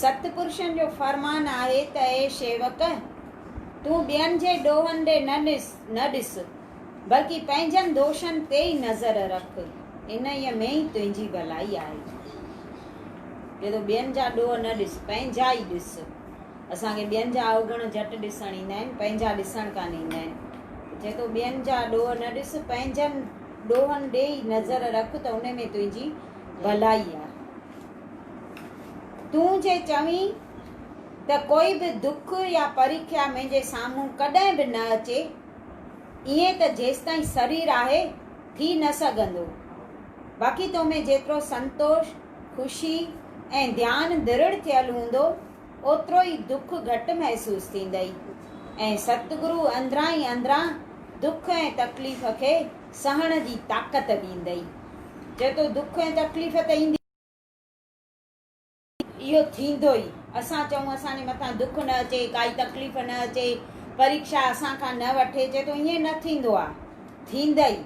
ست پرشن جو فرمان آهي ته اي شيوڪ! تون ٻين جي ڏوهن ڏي نه ڏس نه ڏس، بلڪه پنهنجن دوشن تي ئي نظر رک، انهيء ۾ ئي تنهنجي ڀلائي آهي. جدو ٻين جا ڏوهه نه ڏس، پنهنجا ئي ڏس. اسان کي ٻين جا اوگڻ جهٽ ڏسڻ ايندا آهن، پنهنجا ڏسڻ ڪانه ايندا آهن. چئي ٿو، ٻين جا ڏوهه نه ڏس، پنهنجن ڏوهن ڏي ئي نظر رک ته ان ۾ تنهنجي ڀلائي آهي. تون جي چوين ته ڪوئي به دک يا پريکيا منهنجي سامهون ڪڏهن به نه اچي، ايئن ته جيستائين سرير آهي، ٿي نه سگهندو. باقي تو ۾ جيترو سنتوش، خوشي ۽ ڌيان درڙ ٿيل هوندو، اوترو ئي دک گهٽ محسوس ٿيندئي ۽ ستگرو اندران ئي اندران دک ۽ تڪليف کي سهڻ جي طاقت ڏيندئي. چئي ٿو دک ۽ تڪليف ته ايندي. اهو ٿيندو ئي. اسان چئون اسان جي مٿان دک نه اچي، ڪائي تڪليف نه اچي، پريڪشا اسان کان نه وٺي، چئي ٿو ائين نه ٿيندو آ. ٿيندئي.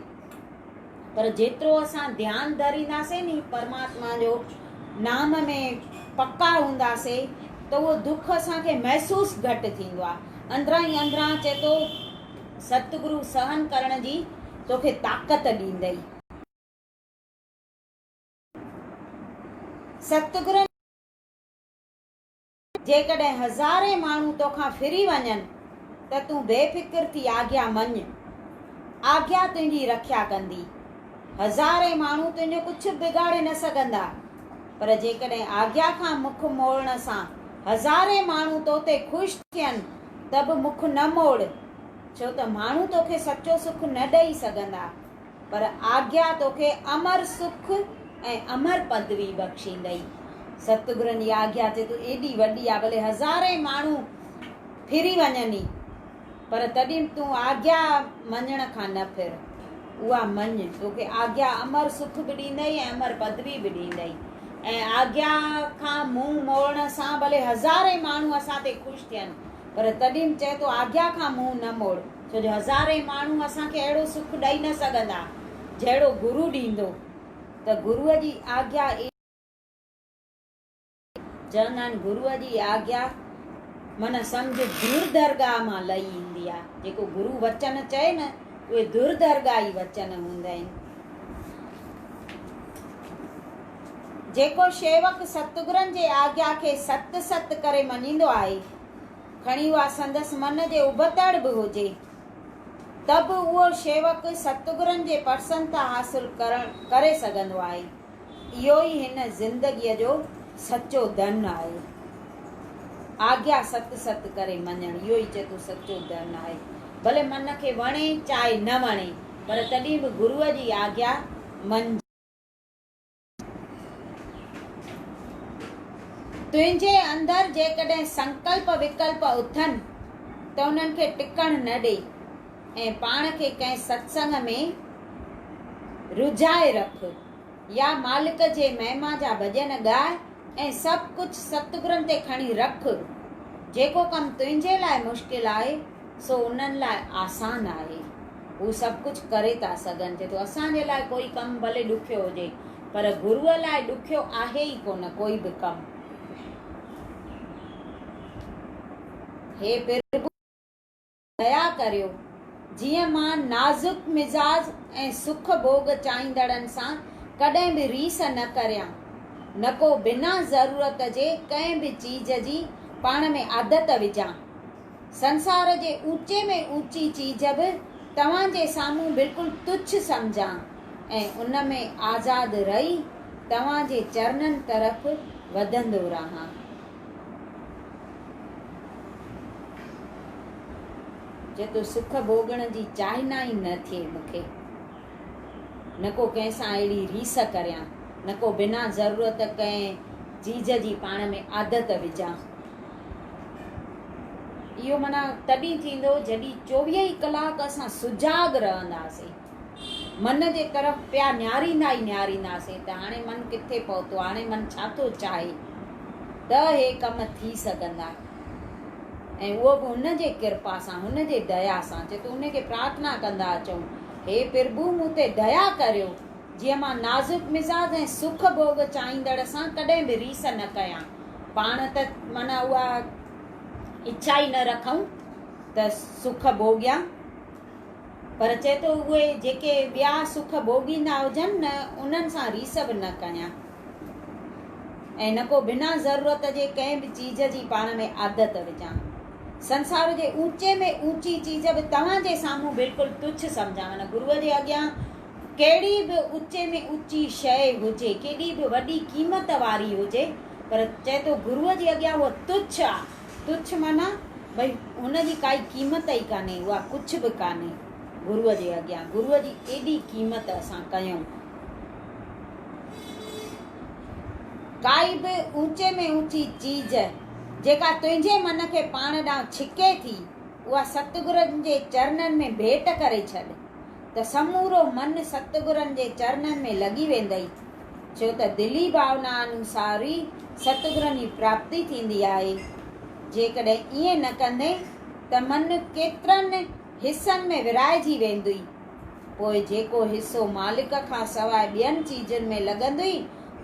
پر جيترو اسان ڌيان ڌرينداسين ني پرماتما جو نام ۾ پڪا هونداسين ته اهو دک اسان کي محسوس گهٽ ٿيندو آهي اندران ئي اندران اچي ٿو ستگرو سهن ڪرڻ جي توکي طاقت ڏيندئي. ستگرن. جيڪڏهن هزارين ماڻهو توکان ڦري وڃن ته تون بي فڪر ٿي آگيا مڃ. آگيا تنهنجي رکيا ڪندي. هزارين ماڻهو تنهنجو ڪجهه به بگاڙي نه سگهندا. پر جيڪڏهن آگيا کان مک موڙڻ سان هزارين ماڻهو تو تي خوش ٿين ته به مک نه موڙ، ڇو ته ماڻهو توکي سچو سک نه ڏئي سگهندا. پر آگيا توکي امر سک ۽ امر پدوي بخشيندئي. ستگرن جي آگيا تي تون ايڏي وڏي آ ڀلي هزارين ماڻهو ڦري وڃن ئي پر تڏهن به تون آگيا مڃڻ کان نه ڦر. اها مڃ، توکي آگيا امر سک به ڏيندئي ۽ امر پدوي به ڏيندئي ۽ آگيا کان منهن موڙڻ سان ڀلي هزارين ماڻهو اسان تي خوش ٿين پر تڏهن به چئه تو آگيا کان منهن نه موڙ. ڇو جو هزارين ماڻهو اسان کي اهڙو سک ڏئي نه سگهندا، جهڙو گرو ڏيندو، ته گرو جي آگيا ئي سک آهي. چوندا آهن گرو جي آگيا معنيٰ سمجهه دور درگاهه مان لهي ايندي آهي. جيڪو گرو وچن چئي نه، اهي دور درگاهي وچن هوندا آهن. جيڪو شيوڪ ستگرن جي آگيا کي ست ست ڪري مڃيندو آهي، کڻي اها سندس من جي ابتڙ به هجي ته به اهو شيوڪ ستگرن جي پرسنتا حاصل ڪرڻ ڪري سگهندو آهي. اهو ئي هن زندگيء جو سچو ڌن آهي. آگيا ست ست ڪري مڃڻ اهو ئي چيتو سچو ڌن آهي. ڀلي من کي وڻي چاهي نه وڻي پر تڏهن به گروء جي آگيا مڃجي. تنهنجي اندر جيڪڏهن سنڪلپ وڪلپ اٿن ته انهن کي ٽڪڻ نه ڏي ۽ پاڻ کي ڪنهن ستسنگ ۾ رجهائي رک يا مالڪ جي مهما جا ڀڄن ڳاء ۽ سڀ ڪجهه ستگرن تي کڻي رک جيڪو ڪم تنهنجي لاء مشڪل آهي سو انهن لاء آسان آهي. هو سڀ ڪجهه ڪري ٿا سگهن. چئي ٿو اسان جي لاء ڪوئي ڪم ڀلي ڏکيو هجي پر گروء لاء ڏکيو آهي ئي ڪونه ڪوئي به ڪم. هي پرڀو! ديا ڪريو جيئن مان نازڪ مزاج ۽ سک ڀوڳ چاهيندڙن سان ڪڏهن به ريس نه ڪريان، نڪو بنا ضرورت جي ڪنهن به چيز جي پاڻ ۾ عادت وجهان. سنسار جي اوچي ۾ اوچي چيز به توهان جي سامهون بلڪل تڇ سمجهان ۽ ان ۾ آزاد رهي توهان جي چرنن طرف وڌندو رهان. جتو سک ڀوڳڻ جي چاهنا ئي نه ٿئي مون کي. نه ڪو ڪنهن سان اهڙي ريس ڪريان، نه ڪو بنا ضرورت ڪنهن چيز جي پاڻ ۾ عادت وجهان. اهو معنيٰ تڏهن ٿيندو جڏهن چوويهه ئي ڪلاڪ اسان سجاڳ رهنداسين من جي طرف پيا نهاريندا ئي نهارينداسين ته هاڻي من ڪٿي پهتو آهي هاڻي من ڇا ٿو چاهي ته اهي ڪم ٿي سگهندا ۽ اهو به هن جي ڪرپا سان هن جي ديا سان چي ته ان کي پرارٿنا ڪندا اچون هي پرڀو مون تي ديا ڪريو جيئن مان نازڪ مزاج ۽ سک ڀوڳ چاهيندڙ سان ڪڏهن به ريس نه ڪيان پاڻ ته معنيٰ اها اڇا ئي نه رکون ته سک ڀوڳيان، پر چئي ٿو اهي جيڪي ٻيا سک ڀوڳيندا هجن نه انهن سان ريس به نه ڪيان ۽ نه ڪو بنا ضرورت جي ڪنهن به چيز جي پاڻ ۾ عادت وجهان. سنسار جي اوچي ۾ اوچي چيز به توهان جي سامهون بلڪل تڇ سمجهان معنيٰ گروء جي اڳيان ڪهڙي به اوچي ۾ اوچي شيء هجي، ڪيڏي به وڏي قيمت واري هجي، پر چئي ٿو گروء جي اڳيان هوء تڇ آ، تڇ معنيٰ ڀئي هن جي ڪائي قيمت ئي ڪانهي، اها ڪڇ به ڪانهي گروء جي اڳيان، گروء جي ايڏي قيمت اسان ڪيون. ڪائي به اوچي ۾ اوچي چيز، جيڪا تنهنجي من کي پاڻ ڏانهن ڇڪي ٿي، اها ستگرن جي چرنن ۾ ڀيٽ ڪري ڇڏ، ته سمورو من ستگرن جي چرنن ۾ لڳي ويندئي، ڇو ته دلي ڀاونا انوسار ئي ستگرن جي پراپتي ٿيندي آهي. جيڪڏهن ائين نه ڪندين ته من ڪيترن حصن ۾ ورهائجي ويندئي. پوء جيڪو حصو مالڪ کان سواء ٻين چيزن ۾ لڳندئي،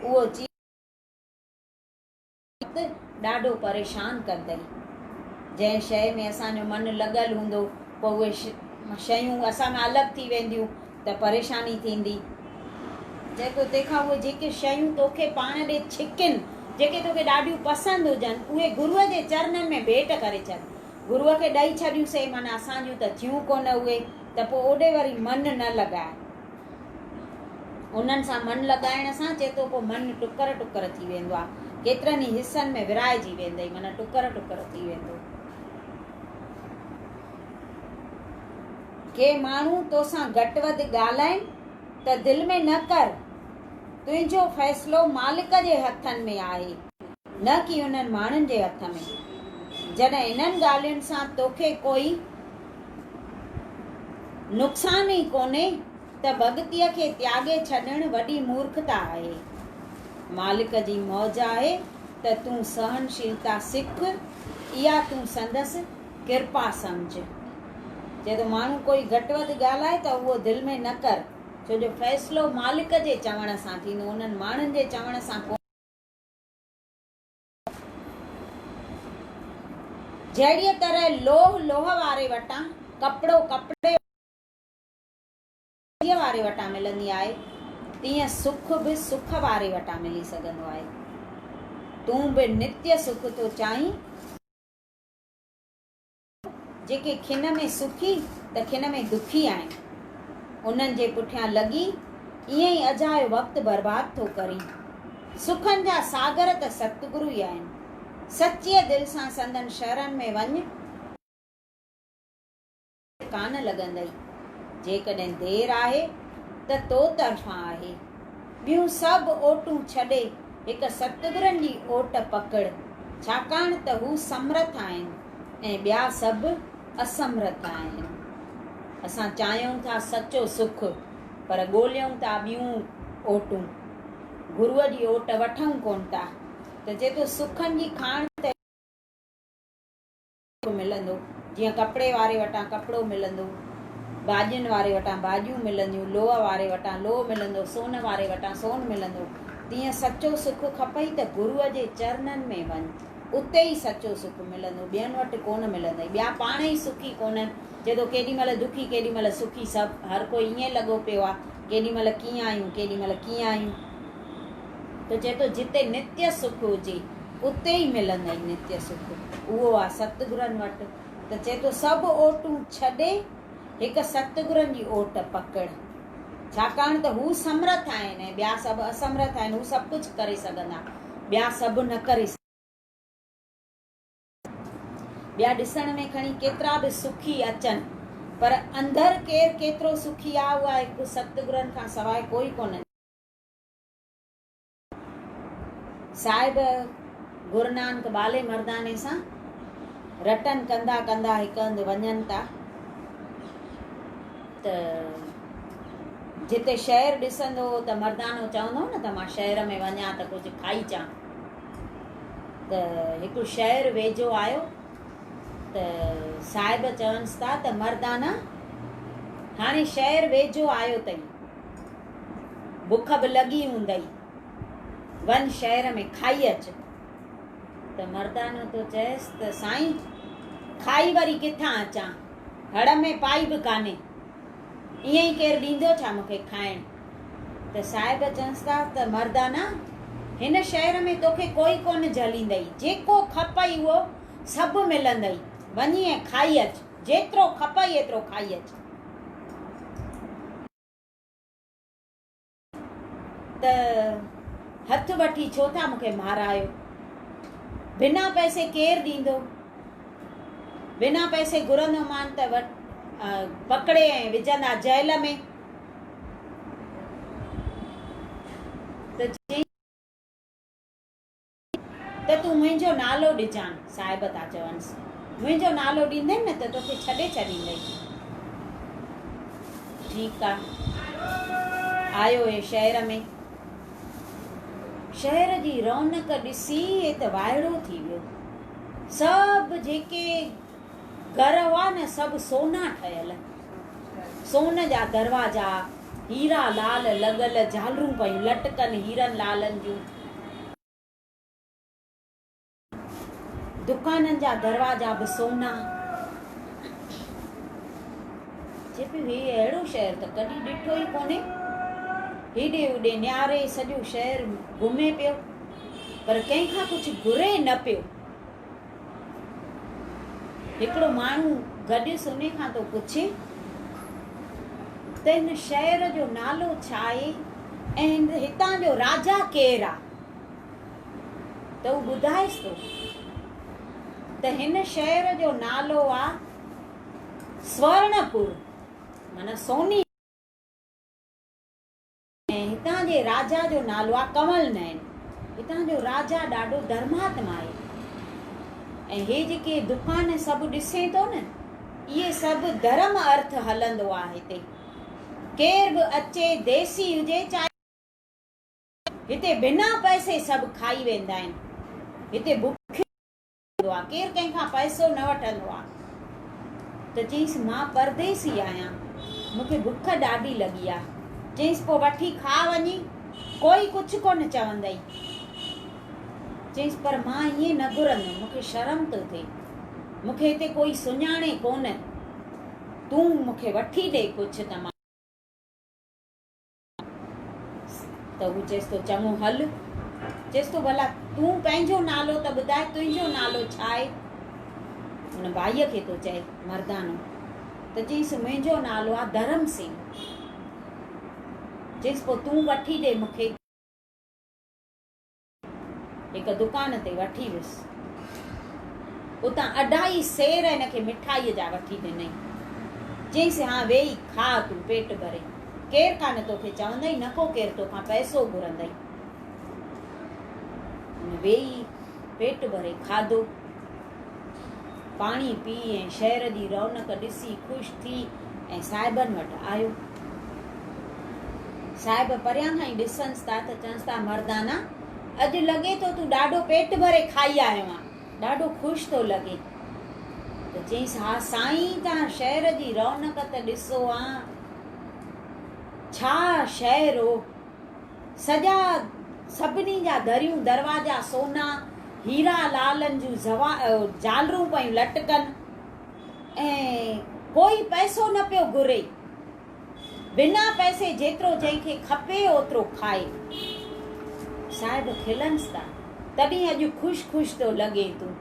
اهو چيز. وقت ڏاڍو پريشان ڪندي. جنهن شيء ۾ اسان جو من لڳل هوندو، پوء اهي شيون اسان کان الڳ ٿي وينديون ته پريشاني ٿيندي. جنهن پوء تنهن کان اهي جيڪي شيون توکي پاڻ ڏي ڇڪين، جيڪي توکي ڏاڍيون پسند هجن، اهي گروء جي چرنن ۾ ڀيٽ ڪري ڇڏ. گروء کي ڏئي ڇڏيون سي معنيٰ اسان جون ته ٿيون ڪونه اهي، ته پوء اوڏي وري من نه لڳاء. انهن سان من لڳائڻ سان چيتوڪو من ٽڪر ٽڪر ٿي ويندو آهي. ڪيترن ئي حصن ۾ ورهائجي ويندئي معنيٰ ٽڪر ٽڪر ٿي ويندو. ڪي ماڻهو توسان گهٽ وڌ ڳالهائين ته دل ۾ نه ڪر، تنهنجو فيصلو مالڪ جي هٿن ۾ آهي. نه ڪي انهن ماڻهن جي هٿ ۾. جڏهن انهن ڳالهين سان توکي ڪوئي. نقصان ئي ڪونهي ته ڀڳتيء کي تياڳي ڇڏڻ وڏي مورکتا آهي. مالڪ جي موج آهي ته تون سهنشيلتا سک، اها تون سندس ڪرپا سمجهه. چئي ٿو ماڻهو ڪوئي گهٽ وڌ ڳالهائي ته اهو دل ۾ نه ڪر، ڇو جو فيصلو مالڪ جي چوڻ سان ٿيندو، انهن ماڻهن جي چوڻ سان ڪونه. جهڙيء طرح لوهه لوهه واري وٽان، ڪپڙو ڪپڙي واري وٽان ملندي آهي، تيئن سک به سک واري وٽان ملي سگهندو آهي. تون به نتي سک ٿو چاهين. جيڪي کن ۾ سکي ته کن ۾ دکي آهن، انهن جي پٺيان لڳي ائين ئي اجايو وقت برباد ٿو ڪرين. سکن جا ساگر ته ستگرو ئي آهن. سچيء دل سان سندن شرن ۾ وڃ. ڪانه لڳندئي. جيڪڏهن دير آهي ته تو طرفان آهي. ٻيون سڀ اوٽون ڇڏي. هڪ ستگرن جي اوٽ پڪڙ، ڇاڪاڻ ته هو سمرٿ آهن ۽ ٻيا سڀ اسمرٿ آهن. اسان چاهيون ٿا سچو سک، پر ڳوليون ٿا ٻيون اوٽون. گروء جي اوٽ وٺون ڪونه ٿا، ته جيڪو سکن جي کاڻ تي. ملندو، جيئن ڪپڙي واري وٽان ڪپڙو ملندو، ڀاڄين واري وٽان ڀاڄيون ملنديون، لوهه واري وٽان لوهه ملندو، سون واري وٽان سون ملندو، تيئن سچو سک کپئي ته گروء جي چرنن ۾ وڃ، اتي ئي سچو سک ملندو، ٻين وٽ ڪونه ملندئي، ٻيا پاڻ ئي سکي ڪونهن، چئي ٿو ڪيڏي مهل دکي ڪيڏي مهل سکي، سڀ هر ڪو ائين لڳو پيو آ، ڪيڏي مهل ڪيئن آهيون ڪيڏي مهل ڪيئن آهيون. ته چئي ٿو جتي نتي سک هجي اتي ئي ملندئي نتي سک، اهو آ ستگرن وٽ، ته چئي ٿو سڀ اوٽون ڇڏي هڪ ستگرن جي اوٽ پڪڙ، ڇاڪاڻ ته هو سمرٿ آهن ۽ ٻيا سڀ اسمرٿ آهن، هو سڀ ڪجهه ڪري سگهندا، ٻيا سڀ نه ڪري سگهندا. ٻيا ڏسڻ ۾ کڻي ڪيترا به سکي اچن پر اندر ڪير ڪيترو سکي آ اها هڪ ستگرن کان سواء ڪوئي ڪونه ڄاڻي. صاحب گرونانڪ ٻالي مرداني سان رٽن ڪنڌا ڪنڌا هڪ هنڌ وڃن ٿا ته جتي شهر ڏسندو هو ته مردانو چوندو هو نه ته مان شهر ۾ وڃان ته ڪجهه کائي چان ته هڪ شهر ويجهو آيو ته صاحب چونس ٿا ته مردانا هاڻي شهر ويجهو آيو تئين بک به لڳي هوندئي، وڃ شهر ۾ کائي اچ. ته مردانو ٿو چئس ته سائين کائي وري ڪٿان اچان، هڙ ۾ پائي به ڪانهي، ائين ئي ڪير ڏيندو ڇا مون کي کائڻ؟ ته صاحب چونس ٿا ته مردانا هن شهر ۾ توکي ڪوئي ڪونه جهليندئي، جيڪو کپئي اهو سڀ ملندئي، وڃي ۽ کائي اچ، جيترو کپئي ايترو کائي اچ. ته هٿ وٺي ڇو ٿا مون کي مارايو بنا پئسي ڪير ڏيندو بنا پئسي گهرندو مان ته پڪڙي ۽ وجهندا جيل ۾ ته تون منهنجو نالو ڏجان. صاحب ٿا چونس، منهنجو نالو ڏيندين نه ته توکي ڇڏي ڇڏيندئين. ٺيڪ آ. آيو اهي شهر ۾. شهر جي رونق ڏسي هي ته وائڙو ٿي ويو. سڀ جيڪي گهر هئا نه سڀ سونا ٺهيل، سون جا دروازا، هيرا لعل لڳل جهالرون پيون لٽڪن هيرن لعلن جون، دڪانن جا دروازا به سونا، چئي پيو هي اهڙو شهر ته ڪڏهن ڏٺو ئي ڪونهي، هيڏي هوڏي نهاري سڄو شهر گهمي پيو پر ڪنهن کان ڪجهه گهري نه پيو. هڪڙو ماڻهو گڏيس انهي کان ٿو پڇي ته هن شهر جو نالو ڇا آهي ۽ هتان جو راجا ڪير آهي ته هو ٻڌائيس ٿو ته هن شهر جو نالو آهي سورڻپور معنيٰ سوني ۽ هتان جي راجا جو نالو آهي ڪنول نئن. هتان جو راجا ڏاڍو ڌرماتما آهي ۽ هي جيڪي دڪان سڀ ڏسين ٿو نه اهي سڀ ڌرم ارٿ هلندو آهي هتي ڪير به اچي ديسي هجي چاهي هتي بنا پئسي سڀ کائي ويندا آهن هتي بکيو ٿيندو آ، ڪير ڪنهن کان پئسو نه وٺندو آ ته چيس مان پرديسي آهيان، مون کي بک ڏاڍي لڳي آ، چيس پوء وٺي کاء وڃي، ڪوئي ڪڇ ڪونه چوندئي، چيس پر مان ائين نه گهرندم، مون کي شرم ٿو ٿئي، مون کي هتي ڪوئي سڃاڻي ڪونه، تون مون کي وٺي ڏي ڪڇ ته مان. ته هو چيس ٿو چڱو هل. چيس ٿو ڀلا تون پنهنجو نالو ته ٻڌاء تنهنجو نالو ڇا آهي؟ هن ڀائيء کي ٿو چئي مردانو ته چيس منهنجو نالو آهي ڌرم سين. چيس پوء تون وٺي ڏي مون کي. هڪ دڪان تي وٺي ويس. اتان اڍائي سير هن کي مٺائيء جا وٺي ڏنائين. چيائينس، هان ويهي کاء تون پيٽ ڀري. ڪير ڪانه توکي چوندئي، نه ڪو ڪير توکان پئسو گهرندئي. هن ويهي پيٽ ڀري کاڌو. پاڻي پي ۽ شهر جي رونق ڏسي خوش ٿي ۽ صاحبن وٽ آيو. صاحب پريان کان ئي ڏسنس ٿا ته چونس ٿا مردانا اڄ لڳي ٿو تون ڏاڍو پيٽ ڀري کائي آيو آهين ڏاڍو خوش ٿو لڳين ته چيس ها سائين توهان شهر جي رونق ته ڏسو ها ڇا شهر هو سڄا سڀني جا دريون دروازا سونا، هيرا لعلن جون جهالرون پيون لٽڪن ۽ ڪوئي پئسو نه پيو گهري. بنا پئسي جيترو جنهن کي کپي اوترو کائي. صاحب کلنس ته تڏهن اڄ خوش خوش ٿو لڳين تون.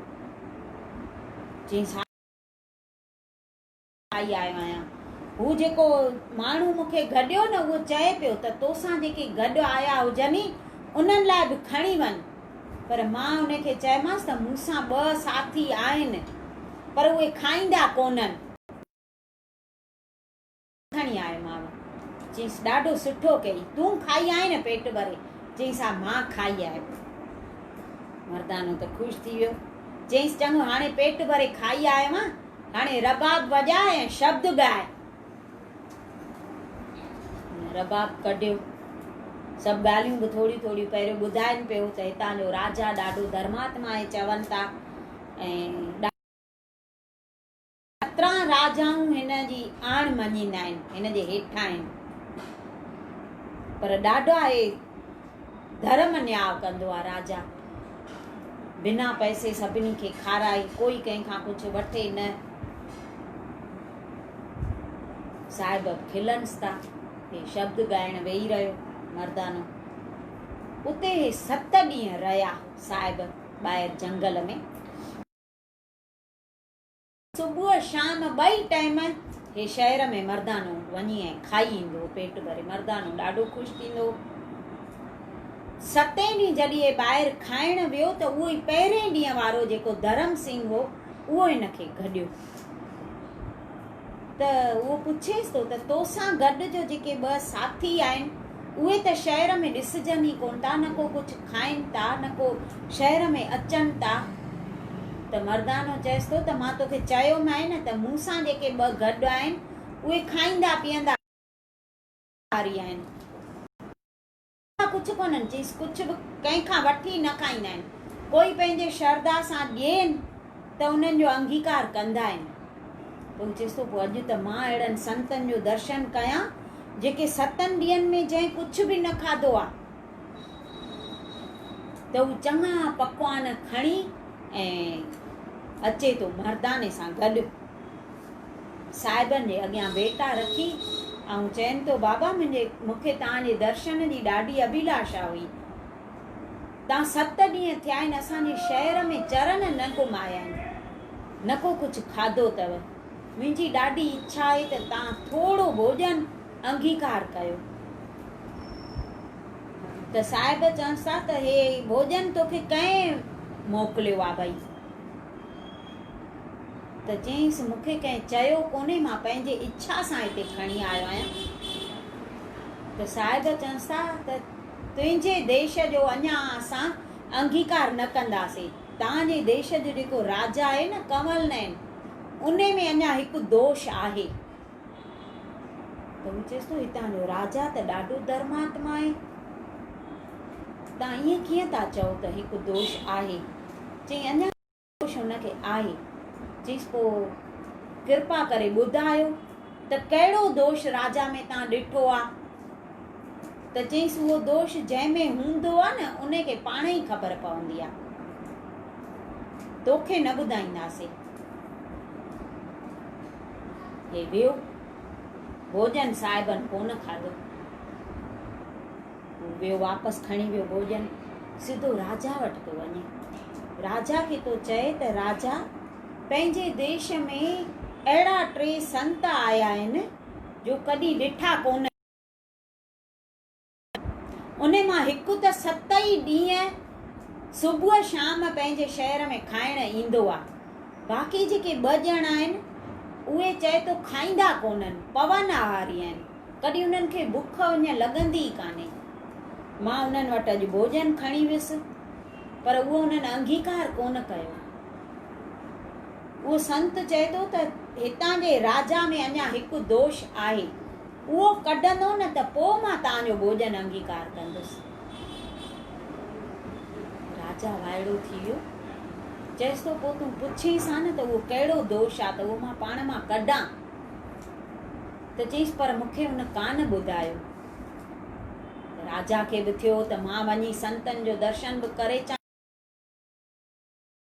چينس ها. آئي آيو آهيان. هو جيڪو ماڻهو مون کي گڏيو نه اهو چئي پيو ته توسان جيڪي گڏ آيا هجني انهن لاء به کڻي وڃ. پر مان ان کي چيمانس ته مون سان ٻه ساٿي آهن پر اهي کائيندا ڪونهن. کڻي آيو ماء. چيس ڏاڍو سٺو ڪئي تون کائي آئين نه پيٽ ڀري. چيس ها مان کائي آيم. مردانو ته خوش ٿي ويو. چيس چڱو هاڻي پيٽ ڀري کائي آيو آهين. هاڻي رباب وڄاء ۽ شبد ڳاء. رباب ڪڍيو. سڀ ڳالهيون به ٿوريون ٿوريون پهريون ٻڌائين پيو ته هتان جو راجا ڏاڍو ڌرماتما آهي چون ٿا ۽ سترهن راجائون هن جي آڻ مڃيندا آهن هن جي هيٺان آهن پر ڏاڍا اهي ڌرم نياء ڪندو آ راجا بنا پئسي سڀني کي کارائي ڪوئي ڪنهن کان ڪجهه وٺي نه صاحب کلنس تا هي شبد ڳائڻ ويهي رهيو مردانو اتي هي ست ڏينهن رهيا صاحب ٻاهر جنگل ۾ صبح شام ٻئي ٽائيم هي شهر ۾ مردانو وڃي ۽ کائي ايندو هو پيٽ ڀري مردانو ڏاڍو خوش ٿيندو هو ستين ڏينهن جڏهن هي ٻاهر کائڻ ويو ته اهو ئي پهرين ڏينهن وارو جيڪو ڌرم سنگهه هو اهو هن کي گڏيو ته اهو پڇيس ٿو ته توسان گڏ جو جيڪي ٻه ساٿي آهن اهي ته شهر ۾ ڏسجن ئي ڪونه ٿا، نه ڪو ڪجهه کائين ٿا، نه ڪو شهر ۾ اچن ٿا. ته مردانو چيس ٿو ته مان توکي چيومانء نه ته مون سان جيڪي ٻه گڏ آهن، اهي کائيندا پيئندا ڀڪاري آهن. ڪندا ڪجهه ڪونهن. چيس ڪجهه به ڪنهن کان وٺي نه کائيندا آهن. ڪوئي پنهنجي شرڌا سان ڏين. ته انهن جو انگيڪار ڪندا آهن. پوء چيس ٿو، پوء اڄ ته مان اهڙن سنتن جو درشن ڪيان، جيڪي ستن ڏينهن ۾ جنهن ڪجهه به نه کاڌو آهي، ته هو چڱا پڪوان کڻي ۽ اچي ٿو مرداني سان گڏ صاحبن جي اڳيان ويٽا رکي ۽ چين ٿو، بابا منهنجي مون کي توهان جي درشن جي ڏاڍي اڀيلاشا هئي، تان ست ڏينهن ٿيا آهن اسان جي شهر ۾ چرن نه گهمايا آهن نه ڪو ڪجهه کاڌو اٿو منهنجي ڏاڍي اڇا آهي ته تان ٿورو ڀوڄن انگيڪار ڪيو ته صاحب چونس ٿا ته هي ڀوڄن توکي ڪنهن موڪليو آ ڀئي ته چيس مون کي ڪنهن چيو ڪونهي مان پنهنجي اڇا سان هتي کڻي آيو آهيان ته صاحب چونس ٿا ته تنهنجي ديش جو اڃا اسان انگيڪار نه ڪنداسين. تان جي ديش جو جيڪو راجا آهي نه ڪنول نئن، ان ۾ اڃا هڪ دوش آهي. ته هو چيس ٿو، هتان جو راجا ته ڏاڍو ڌرماتما آهي. تان ائين ڪيئن ٿا چئو ته هڪ دوش آهي. چئي اڃا. هوش هن کي آئي، چيس پوء ڪرپا ڪري ٻڌايو ته ڪهڙو دوش راجا ۾ تان ڏٺو آ؟ ته چيس اهو دوش جنهن ۾ هوندو آ نه ان کي پاڻ ئي خبر پوندي آ. توکي نه ٻڌائينداسي. هي ويو. ڀوڄن صاحبن ڪونه کاڌو. ويو واپس کڻي ويو ڀوڄن سڌو راجا وٽ ٿو وڃي راجا کي ٿو چئي ته راجا پنهنجي ديش ۾ اهڙا ٽي سنت آيا آهن جو ڪڏهن ڏٺا ڪونه ان مان هڪ ته ست ئي ڏينهن صبح شام پنهنجي شهر ۾ کائڻ ايندو آهي باقي جيڪي ٻه ڄڻا آهن اهي چئي ٿو کائيندا ڪونهن پون آهاري آهن ڪڏهن انهن کي بک اڃ لڳندي ئي ڪانهي. مان انهن وٽ اڄ ڀوڄن کڻي ويس، پر اهو انهن انگيڪار ڪونه ڪيو. اهو سنت چئي ٿو ته هتان جي راجا ۾ اڃا هڪ دوش آهي، اهو ڪڍندو نه ته پوء مان توهان جو ڀوڄن انگيڪار ڪندس. راجا وائڙو ٿي ويو. چيس ٿو پوء تون پڇيس ها نه ته اهو ڪهڙو دوش آ ته اهو مان پاڻ مان ڪڍان. ته چيس پر مون کي هن ڪانه ٻڌايو. راجا کي به ٿيو ته مان وڃي سنتن جو درشن به ڪري اچان.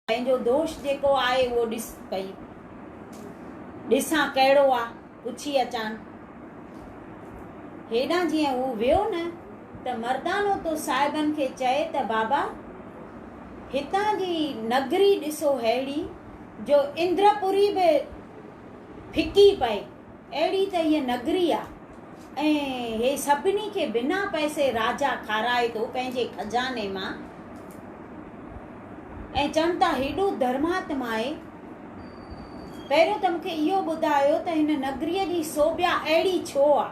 پنهنجو دوش جيڪو آهي اهو ڏس پئي ڏسان ڪهڙو آ پڇي اچان. هيڏانهن جيئن هو ويو نه ته مردانو تو صاحبن کي چئي ته بابا هتان جي نگري ڏسو ههڙي جو اندرپوري به ڦڪي پئي. اهڙي ته هيء نگري آ ۽ هي سڀني کي بنا پئسي راجا کارائي ٿو پنهنجي خزاني مان ۽ چون ٿا هيڏو ڌرماتما آهي. پهريون ته مون کي اهو ٻڌايو ته هن نگريء جي سوڀيا اهڙي ڇو آ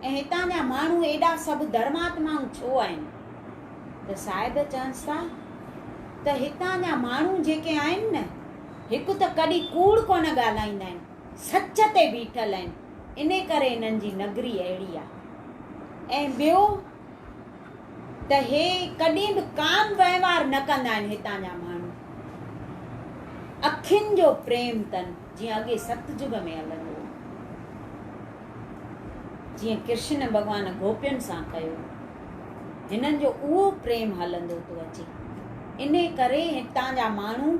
۽ هتان جا ماڻهو ايڏا سڀ ڌرماتمائون ڇو آهن؟ ته صاحب چونس ٿا ته هتان جا ماڻهو جيڪي آهن نه هڪ ته ڪڏهن ڪوڙ ڪونه ڳالهائيندا آهن. سچ تي بيٺل آهن، ان ڪري انهن جي نگري اهڙي آهي. ۽ ٻيو ته هي ڪڏهن به ڪابه وهنوار نه ڪندا آهن، هتان جا ماڻهو اکين جو پريم تن، جيئن اڳي ستجگ ۾ هلندو هو، جيئن ڪرشن ڀڳوان گوپين سان ڪيو، هنن جو اهو پريم هلندو ٿو اچي، ان ڪري هتان جا ماڻهو.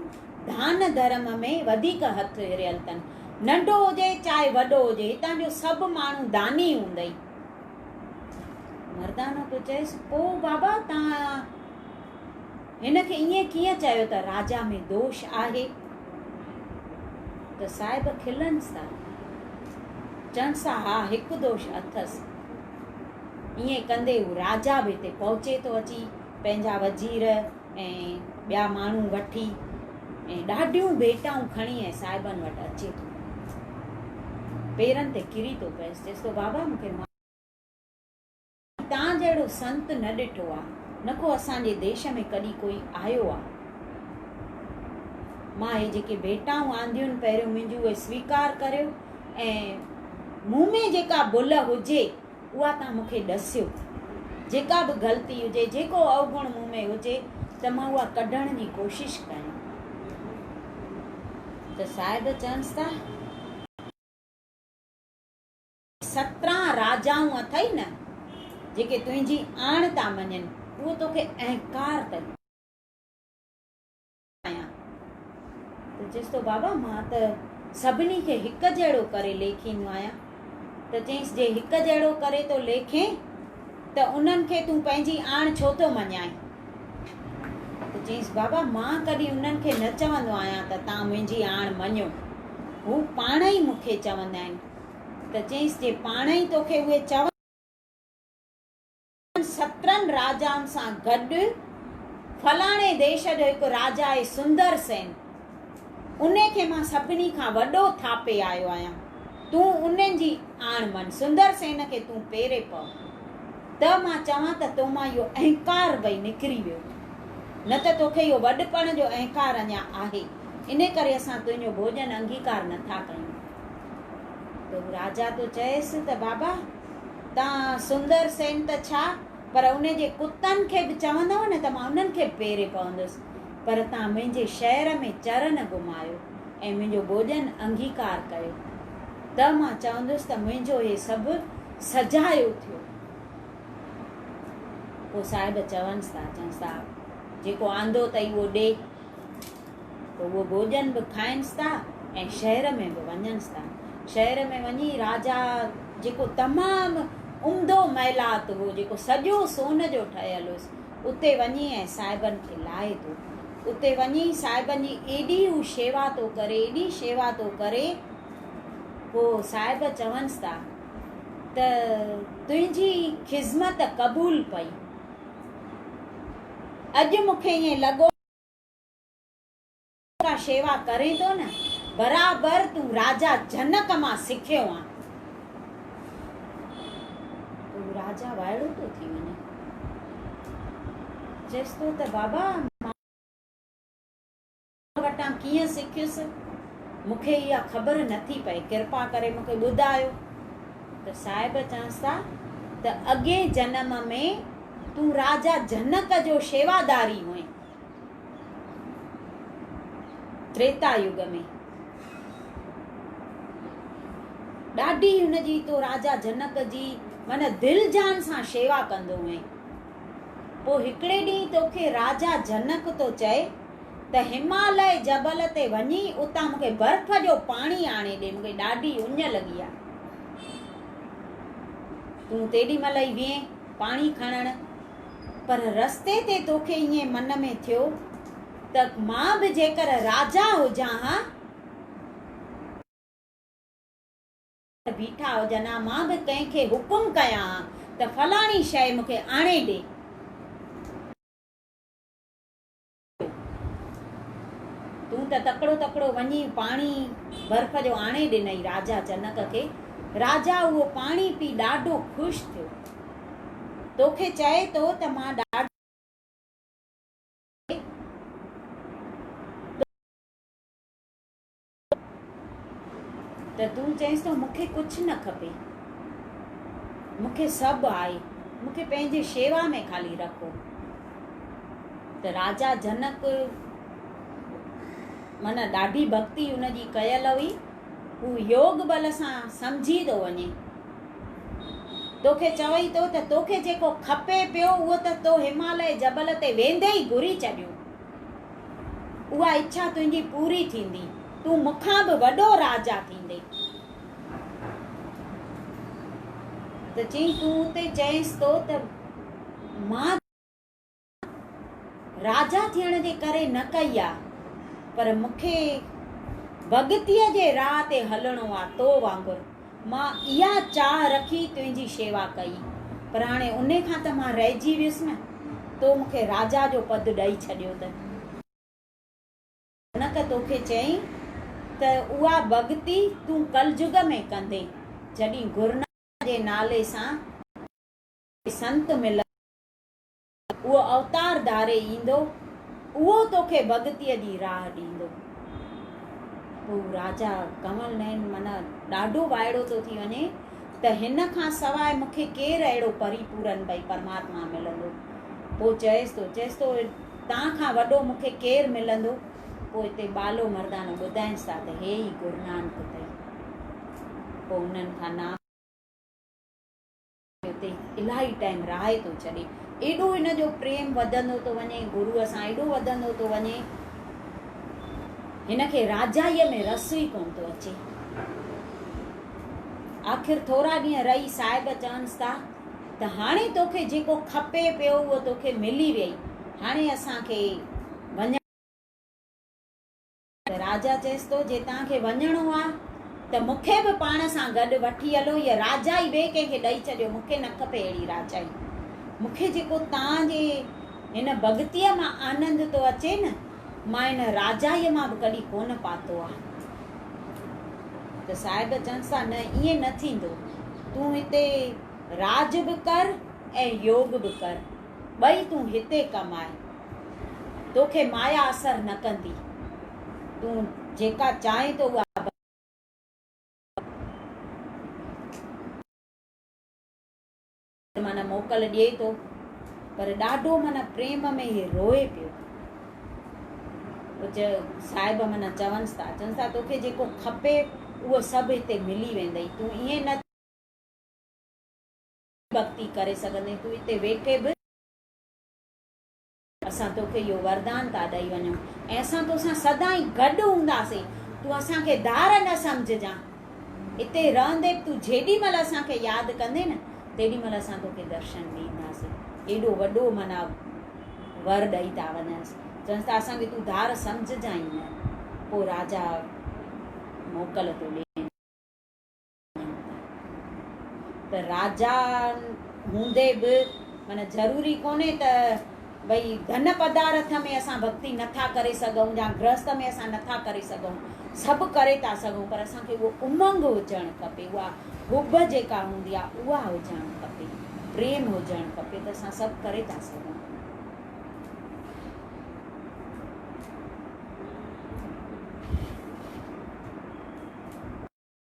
دان ڌرم ۾ وڌيڪ هٿ هريل تن. ننڍو هجي چاهي وڏو هجي هتان جو سڀ ماڻهو داني هوندئي. مردانو پيو چئيس پوء بابا توهان هن کي ائين ڪيئن چيو ته راجا ۾ دوش آهي. ته صاحب کلنس ٿا. چونس ٿا ها هڪ دوش اٿس. ائين ڪندي هو راجا به هتي پهچي ٿو اچي پنهنجا وزير ۽ ٻيا ماڻهو وٺي ۽ ڏاڍيون ڀيٽائون کڻي ۽ صاحبن وٽ اچي ٿو ۽ پيرن تي ڪري ٿو پئس چئس ٿو بابا مون کي تان جهڙو سنت نه ڏٺو آ نه ڪو اسان جي ديش ۾ ڪڏي ڪوئي آيو آ مان هي جيڪي ڀيٽائون آنديون پهريون منهنجون اهي سويڪار ڪريو ۽ مون ۾ جيڪا ڀل هجي اها توهان مون کي ڏسيو. جيڪا به غلطي هجي، جيڪو اوگڻ مون ۾ هجي ته مان اها ڪڍڻ جي ڪوشش ڪيان. ته صاحب چينس ته. سترهن راجائون اٿئي نه، جيڪي تنهنجي آڻ ٿا مڃين، اهو توکي اهنڪار ته. آهيان ته چيس ٿو بابا مان ته سڀني کي هڪ جهڙو ڪري ليکيندو آهيان ته چيس جي هڪ جهڙو ڪري ٿو ليکين ته انهن کي تون پنهنجي آڻ ڇو ٿو مڃائين ته چيس بابا مان ڪڏهن انهن کي نه چوندو آهيان ته تان منهنجي آڻ مڃو هو پاڻ ئي مون کي چوندا آهن ته چيس جي پاڻ ئي توکي اهي چون انهن سترن راجائن سان گڏ فلاڻي ديش جو هڪ راجا آهي سندر سين، ان کي مان سڀني کان وڏو ٿاپي آيو آهيان، تون ان جي آڻ مڃ، سندر سين کي تون پيري پء، ته مان چوان ته تو مان اهو اهنڪار وئي نڪري ويو، نه ته توکي اهو وڏپڻ جو اهنڪار اڃا آهي، ان ڪري اسان تنهنجو ڀوڄن انگيڪار نٿا ڪيون. ته هو راجا ٿو چئيس ته بابا! تان سندر سين ته ڇا پر ان جي ڪتن کي به چوندؤ نه ته مان انهن کي به پيري پوندس. پر تان منهنجي شهر ۾ چر نه گهمايو ۽ منهنجو ڀوڄن انگيڪار ڪيو ته مان چوندس ته منهنجو هي سڀ سجايو ٿيو. پوء صاحب چونس ٿا، چونس ٿا، جيڪو آندو اٿئي اهو ڏي. ته اهو ڀوڄن به کائنس ٿا ۽ شهر ۾ به وڃنس ٿا. شهر ۾ وڃي راجا جيڪو تمام عمدو محلات هو، جيڪو سڄو سون جو ٺهيل هيس، اتي وڃي ۽ صاحبن کي لاهي ٿو. اتي وڃي صاحبن جي ايڏي هو شيوا ٿو ڪري، ايڏي شيوا ٿو ڪري، پوء صاحب چونس ٿا ته تنهنجي خذمت قبول پئي. اڄ مون کي ائين لڳو ته جيڪا شيوا ڪرين ٿو نه برابر تون راجا جنڪ مان سکيو آن. تون راجا وائڙو ٿو ٿي وڃين. چيس ٿو ته بابا مان وٽان ڪيئن سکيس مون کي اها خبر نه ٿي پئي ڪرپا ڪري مون کي ٻڌايو ته صاحب چانس ٿا ته اڳئين جنم ۾ تون راجا جنڪ جو شيواداري هئين تريتا يگ ۾ ڏاڍي هن جي تو راجا جنڪ جي من دل جان سان شيوا ڪندو هئين پوء هڪڙي ڏينهن توکي راجا جنڪ تو چئي ته هماليه جبل تي وڃي اتان مون کي برف جو پاڻي آڻي ڏي، مون کي ڏاڍي اڃ لڳي آهي. تون تيڏي مهل ئي ويهين پاڻي کڻڻ، پر رستي تي توکي ائين من ۾ ٿيو ته مان به جيڪر راجا هجان ها، بيٺا هجن ها، مان به ڪنهن کي حڪم ڪيان ها ته فلاڻي شيء مون کي آڻي ڏي. تون ته تڪڙو تڪڙو وڃي پاڻي برف جو آڻي ڏنئي راجا جنڪ کي. راجا اهو پاڻي پي ڏاڍو خوش ٿيو. توکي چئي ٿو ته مان ڏاڍو ته تون چئينس ٿو مون کي ڪجهه نه کپي، مون کي سڀ آهي، مون کي پنهنجي شيوا ۾ خالي رکو. ته راجا جنڪ من ڏاڍي ڀڳتي ان جي ڪيل هئي، هو يوگ بل سان سمجهي ٿو وڃي. توکي چوي ٿو ته توکي جيڪو کپي پيو اهو ته تو هماليه جبل تي ويندي ئي گهري ڇڏيو. اها اڇا تنهنجي پوري ٿيندي، تون مون کان به وڏو راجا ٿيندين. ته چيائين تون اتي چئينس ٿو ته مان راجا ٿيڻ جي ڪري نه ڪئي آ، پر مون کي ڀڳتيء جي راهه تي هلڻو آ، تو وانگر. مان اها چاهه رکي تنهنجي شيوا ڪئي، پر هاڻي انهي کان ته مان رهجي ويس نه، تو مون کي راجا جو پد ڏئي ڇڏيو ته. جنڪ توکي چيائين ته اها ڀڳتي تون ڪلجڳ ۾ ڪندين، جڏهين گرونانڪ جي نالي سان ڪو به سنت ملندو، اهو اوتار ڌاري ايندو، اهو توکي ڀڳتيء جي راهه ڏيندو. هو راجا ڪنول نئن من ڏاڍو وائڙو ٿو ٿي وڃي ته هن کان سواء مون کي ڪير اهڙو پري پورن ڀئي پرماتما ملندو؟ پوء چئيس ٿو، چئيس ٿو، تان کان وڏو مون کي ڪير ملندو؟ پوء اتي ٻالو مردانو ٻڌائينس ٿا ته هي ئي گرونانڪ اٿئي. پوء انهن کان نام. اتي الاهي ٽائيم رهائي ٿو ڇڏي. ايڏو هن جو پريم وڌندو ٿو وڃي، گروء سان ايڏو وڌندو ٿو وڃي، هن کي راجائيء ۾ رس ئي ڪونه ٿو اچي. آخر ٿورا ڏينهن رهي صاحب چونس ٿا ته هاڻي توکي جيڪو کپي پيو اهو توکي ملي ويئي، هاڻي اسان کي وڃڻ. راجا چيس ٿو، جي توهان کي وڃڻو آ ته مون کي به پاڻ سان گڏ وٺي هلو، هيء راجائي ٻئي ڪنهن کي ڏئي ڇڏيو، مون کي نه کپي اهڙي راجائي. مون کي جيڪو توهان جي هن ڀڳتيء مان آنند ٿو اچي نه، مان ان راجائيء مان به ڪڏهن ڪونه پاتو آ. ته صاحب چونس ٿا، نه ائين نه ٿيندو، تون هتي راڄ به ڪر ۽ يوڳ به ڪر، ٻئي تون هتي ڪم آء. تو کي مايا اثر نه ڪندي. تون جيڪا چاهين ٿو اها بس. من موڪل ڏئي ٿو پر ڏاڍو من پريم ۾ هي روئي پيو. اچ صاحب من چونس ٿا چونس ٿا تو کي جيڪو کپي اهو سڀ هتي ملي ويندئي تون ائين نه ڀڳتي ڪري سگهندين تون هتي ويٺي به اسان توکي اهو وردان ٿا ڏئي وڃون ۽ اسان توسان سدائين گڏ هونداسين. تون اسان کي ڌار نه سمجهجان. اتي رهندي به تون جيڏي مهل اسان کي ياد ڪندين نه تيڏي مهل اسان توکي درشن ڏينداسين. ايڏو وڏو معنيٰ ور ڏئي ٿا وڃنس. چونس ٿا اسان کي تون ڌار سمجهجان ئي نه. پوء راجا موڪل ٿو ڏين. ته راجا هوندي به معنيٰ ضروري ڪونهي ته ڀئي ڌن پدارٿ ۾ اسان ڀڳتي نٿا ڪري سگهون يا گرهست ۾ اسان نٿا ڪري سگهون سڀ ڪري ٿا سگهون پر اسان کي اهو امنگ هجڻ کپي اها حب جيڪا هوندي آهي اها هجڻ کپي پريم هجڻ کپي ته اسان سڀ ڪري ٿا سگهون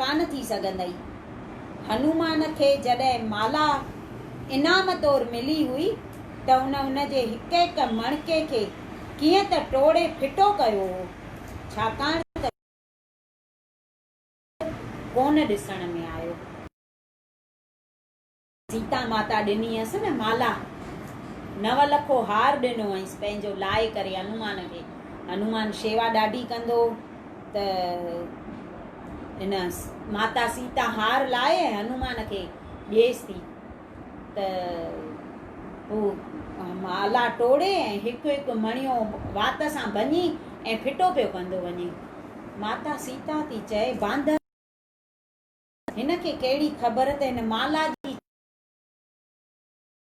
ڪانه ٿي سگهندئي. هنومان کي جڏهن مالا انعام طور ملي هئي ته هن ان جي هڪ هڪ مڻڪي کي ڪيئن ته ٽوڙي ڦٽو ڪيو هو، ڇاڪاڻ ته ڪونه ڏسڻ ۾ آيو. سيتا ماتا ڏني هيس نه مالا، نو لکو هار ڏنو هئينس پنهنجو لاء ڪري هنومان کي. هنومان شيوا ڏاڍي ڪندو هو ته هن ماتا سيتا هار لائي ۽ هنومان کي ڏيس ٿي ته هو مالا ٽوڙي ۽ هڪ هڪ مڻيو وات سان ڀڃي ۽ ڦٽو پيو ڪندو وڃي. ماتا سيتا ٿي چئي باندر. هن کي ڪهڙي خبر ته هن مالا جي ڇا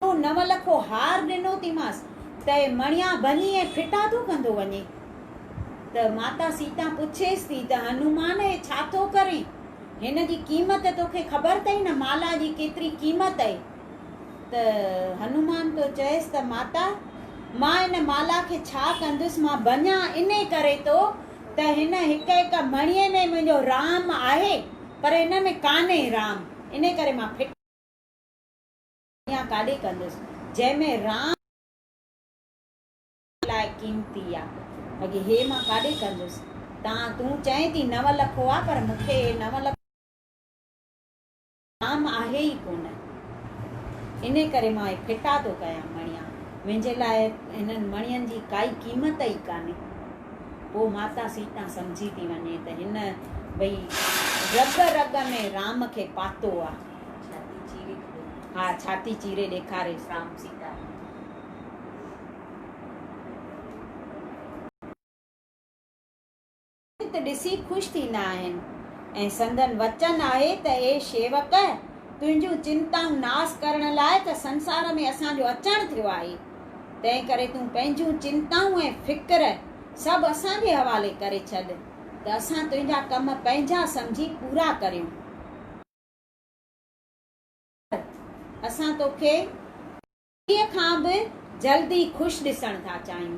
اهو نو لکو هار ڏنو ٿي مانس ته اي مڻيا ڀڃي ۽ ڦٽا ٿو ڪندو وڃين ته ماتا سيتا پڇيس ٿي ته هنومان اي ڇا ٿو ڪرين هن جي قيمت توکي خبر ٿئي نه مالا جي ڪيتري قيمت اي ته هنومان ٿو چئيس ته ماتا مان ان مالا کي ڇا ڪندس مان ڀڃان انهي ڪري ٿو ته هن هڪ هڪ مڻيء ۾ منهنجو رام آهي پر ان ۾ ڪانهي رام ان ڪري مان ڦٽ مڻيا ڪاڏي ڪندس جنهن ۾ رام لاء قيمتي آ بگي هي مان ڪاڏي ڪندس تان تون چئين ٿي نو لکو آ پر مون کي هي نو لکو عام آهي ئي ڪونه. ان ڪري مان هي ڦٽا ٿو ڪيان مڻيا. منهنجي لاء هنن مڻين جي ڪائي قيمت ئي ڪانهي. پوء ماتا سيتا سمجهي ٿي وڃي ته هن ڀئي رڳ رڳ ۾ رام کي پاتو آهي. ڇاتي چيري ڏيکاري. ها ڇاتي چيري ڏيکاريس رام سيتا کي. ته ڏسي خوش ٿيندا آهن ۽ سندن وچن آهي ته اي شيوڪ! تنهنجون چنتائون ناس ڪرڻ لاء ته سنسار ۾ اسان جو اچڻ ٿيو آهي، تنهن ڪري تون پنهنجون چنتائون ۽ فڪر سڀ اسان جي حوالي ڪري ڇڏ ته اسان تنهنجا ڪم پنهنجا سمجهي پورا ڪريون. اسان توکي. انهيء کان به جلد ئي خوش ڏسڻ ٿا چاهيون.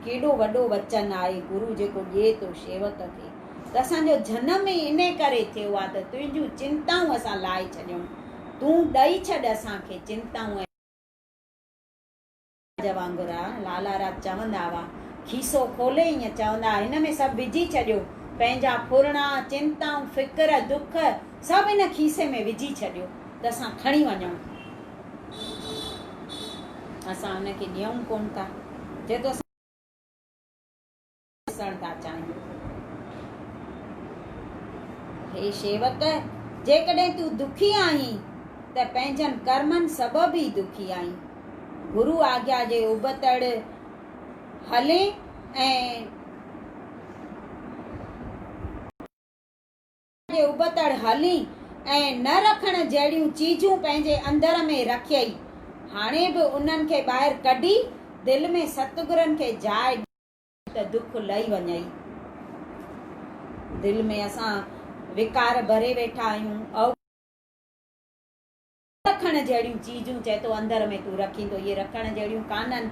ڪيڏو وڏو وچن آهي گرو جيڪو ڏئي ٿو شيوڪ کي ته اسان جو جنم ئي انهيء ڪري ٿيو آهي ته تنهنجون چنتائون اسان لاهي ڇڏيون. تون ڏئي ڇڏ اسان کي چنتائون ۽. راڄ وانگر آ. لالا راڄ چوندا هئا. کيسو کولي ائين چوندا هئا هن ۾ سڀ وجهي ڇڏيو. پنهنجا ڦرڻا، چنتائون، فڪر، دک سڀ هن کيسي ۾ وجهي ڇڏيو. ته اسان کڻي وڃون ٿا. اسان هن کي ڏيون ڪونه ٿا، جيڪو اسان ڏسڻ ٿا چاهيون. اي شيوڪ! جيڪڏهن تون دکي آهين ته پنهنجن ڪرمن سبب ئي دکي آهين. گرو آگيا جي ابتڙ هلين ۽. جي ابتڙ هلين ۽ نه رکڻ جهڙيون چيجون پنهنجي اندر ۾ رکيئي، هاڻي به انهن کي ٻاهر ڪڍي دل ۾ ستگرن کي جاء ڏي. ته دک لهي وڃئي. دل ۾ اسان وڪار ڀري ويٺا آهيون. او. رکڻ جهڙيون چيزون چئي ٿو اندر ۾ تون رکيندو اهي رکڻ جهڙيون ڪانهن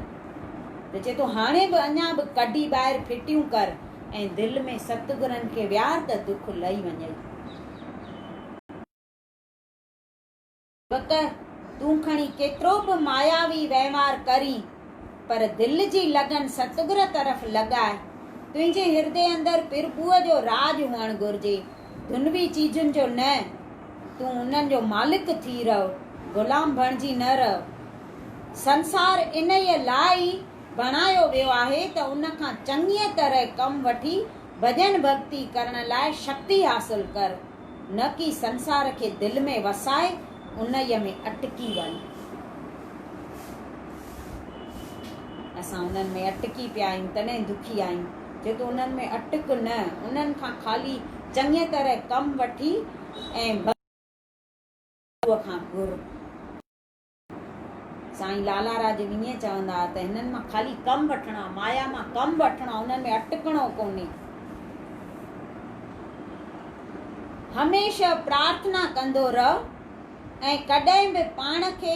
ته چئي ٿو هاڻي به اڃا به ڪڍي ٻاهر ڦٽيون ڪر ۽ دل ۾ ستگرن کي ويهار ته دک لهي وڃئي. بک تون کڻي ڪيترو به ماياوي وهنوار ڪرين پر دل جي لڳن ستگر طرف لڳاء تنهنجي هردي اندر پرڀوء جو راڄ هئڻ گهرجي دنوي چيزن جو نه، تون انهن جو مالڪ ٿي رهه، غلام بڻجي نه رهه. سنسار انهيء لاء ئي بڻايو ويو آهي ته ان کان چڱيء طرح ڪم وٺي ڀڄن ڀڳتي ڪرڻ لاء شڪتي حاصل ڪر، نه ڪي سنسار کي دل ۾ وسائي انهيء ۾ اٽڪي وڃ. اسان انهن ۾ اٽڪي پيا آهيون، تڏهن دکي آهيون. جيڪي انهن ۾ اٽڪ نه، انهن کان خالي چڱيء طرح ڪم وٺي ۽ بس گرو کان گهر. سائين لالا راڄ وڃي چوندا هئا ته هنن مان خالي ڪم وٺڻو آهي، مايا مان ڪم وٺڻو آهي، انهن ۾ اٽڪڻو ڪونهي. هميشه پرارٿنا ڪندو رهه ۽ ڪڏهن به پاڻ کي.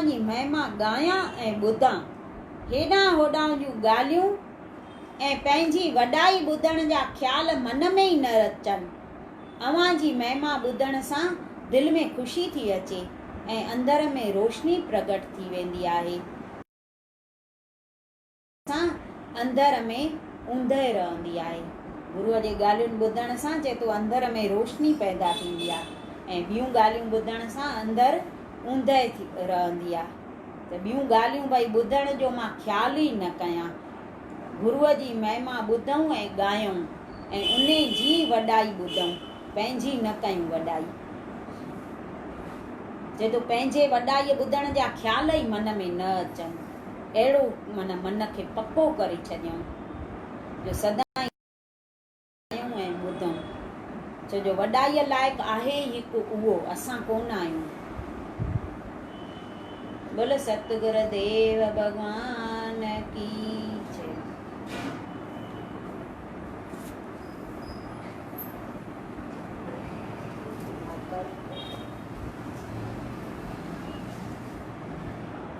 اوهان جي مهما ڳايان ۽ ٻڌان. هيڏانهن هوڏانهن جون ڳالهيون ۽ پنهنجي وڏائي ٻڌڻ جا خيال من ۾ ئي نه اچن. اوهان جي مهما ٻڌڻ سان دل ۾ خوشي ٿي اچي ۽ اندر ۾ روشني پرگٽ ٿي ويندي آهي. سان انڌر ۾ اوندهه رهندي آهي. گروء جي ڳالهيون ٻڌڻ سان چئي ٿو انڌر ۾ روشني پيدا ٿيندي آهي ۽ ٻيون ڳالهيون ٻڌڻ سان انڌر اوندهه ٿي رهندي آهي ته ٻيون ڳالهيون ڀئي ٻڌڻ جو مان خيال ئي نه ڪيان. گروء جي مهما ٻڌئون ۽ ڳايئون ۽ انهي جي وڏائي ٻڌئون پنهنجي نه ڪيون وڏائي. چئي ٿو پنهنجي وڏائي ٻڌڻ جا خيال ئي من ۾ نه اچن. اهڙو معنيٰ من کي پڪو ڪري ڇڏيائون جو سدائين ڳائيون ۽ ٻڌون، ڇو جو وڏائيء لائق آهي ئي هڪ اهو، اسان ڪونه آهيون. بول ستگر ديو ڀڳوان ڪي جي.